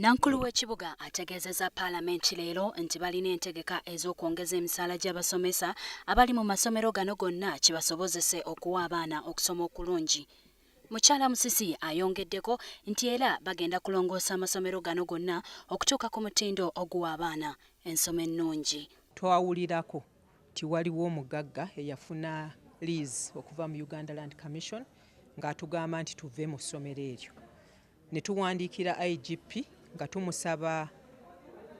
Nankulu w'ekibuga ategeezezza paalamenti leero nti balina entegeka ez'okwongeza emisaala gy'abasomesa abali mu masomero gano gonna kibasobozese okuwa abaana okusoma okulungi. Mukyala Musisi ayongeddeko nti era bagenda kulongoosa amasomero gano gonna okutuuka ku mutindo oguwa abaana ensoma ennungi. Twawulirako nti waliwo omugagga eyafuna liizi okuva mu Uganda Land Commission ng'atugamba nti tuve mu ssomero eryo. ne tuwandiikira IGP nga tumusaba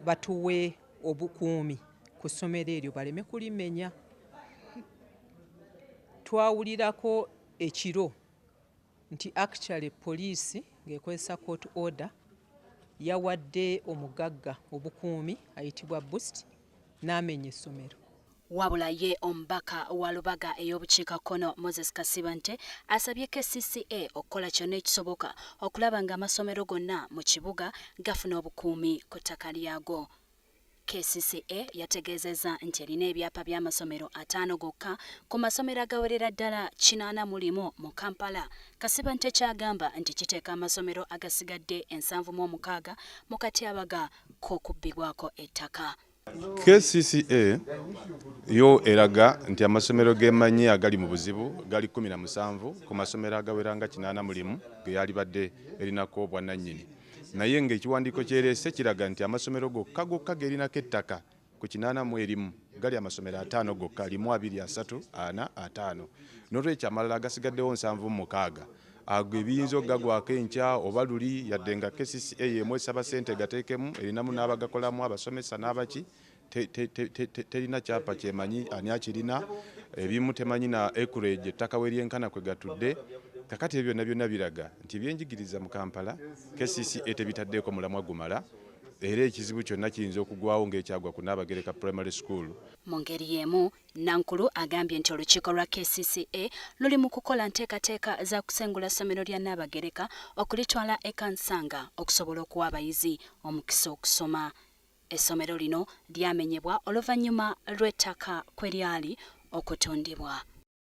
batuwe obukuumi ku ssomero eryo baleme kulimenya. Twawulirako ekiro nti actually poliisi ng'ekozesa court order yawadde omugagga obukuumi ayitibwa Boost n'amenya essomero. Wabula ye omubaka wa Lubaga ey'obukiika kkono Moses Kasibante asabye kcca okukola kyonna ekisoboka okulaba nga amasomero gonna mu kibuga gafuna obukuumi ku ttaka lyago. KCCA yategeezezza nti erina ebyapa by'amasomero ataano gokka ku masomero agawerera ddala kinaana mu limu mu Kampala Kasibante ky'agamba nti kiteeka amasomero agasigadde ensanvu mu omukaaga mu katyabaga k'okubbibwako ettaka. kcca yo eraga nti amasomero gemanyi agali mu buzibu gali 17 ku masomero agawera nga kinaana mulimu geyalibadde erinako obwannannyini naye ng'ekiwandiiko kyereese kiraga nti amasomero gokka gokka gerinako ettaka ku kinaana mu erimu gali amasomero ataano gokka limu abiri asatu ana ataano n'olwekyo amalala agasigaddewo nsanvu mukaaga ago ebiyinza okugagwako enkya oba luli yadde nga kcca yeemu esaba ssente egateekemu erinamu n'abagakolamu abasomesa n'abaki terina kyapa kyemanyi ani akirina ebimu temanyi na acreage ettaka we lyenkana kwe gatudde kakati ebyo byonna byonna biraga nti ebyenjigiriza mu kampala kcca tebitaddeeko mulamwa gumala era ekizibu kyonna kiyinza okugwawo ng'ekyagwa ku naabagereka primary school mu ngeri yeemu Nankulu agambye nti olukiiko lwa kcca luli mu kukola nteekateeka za kusengula ssomero lya Nnaabagereka okulitwala e Kansanga okusobola okuwa abayizi omukisa okusoma. Essomero lino lyamenyebwa oluvannyuma lw'ettaka kwe lyali okutundibwa.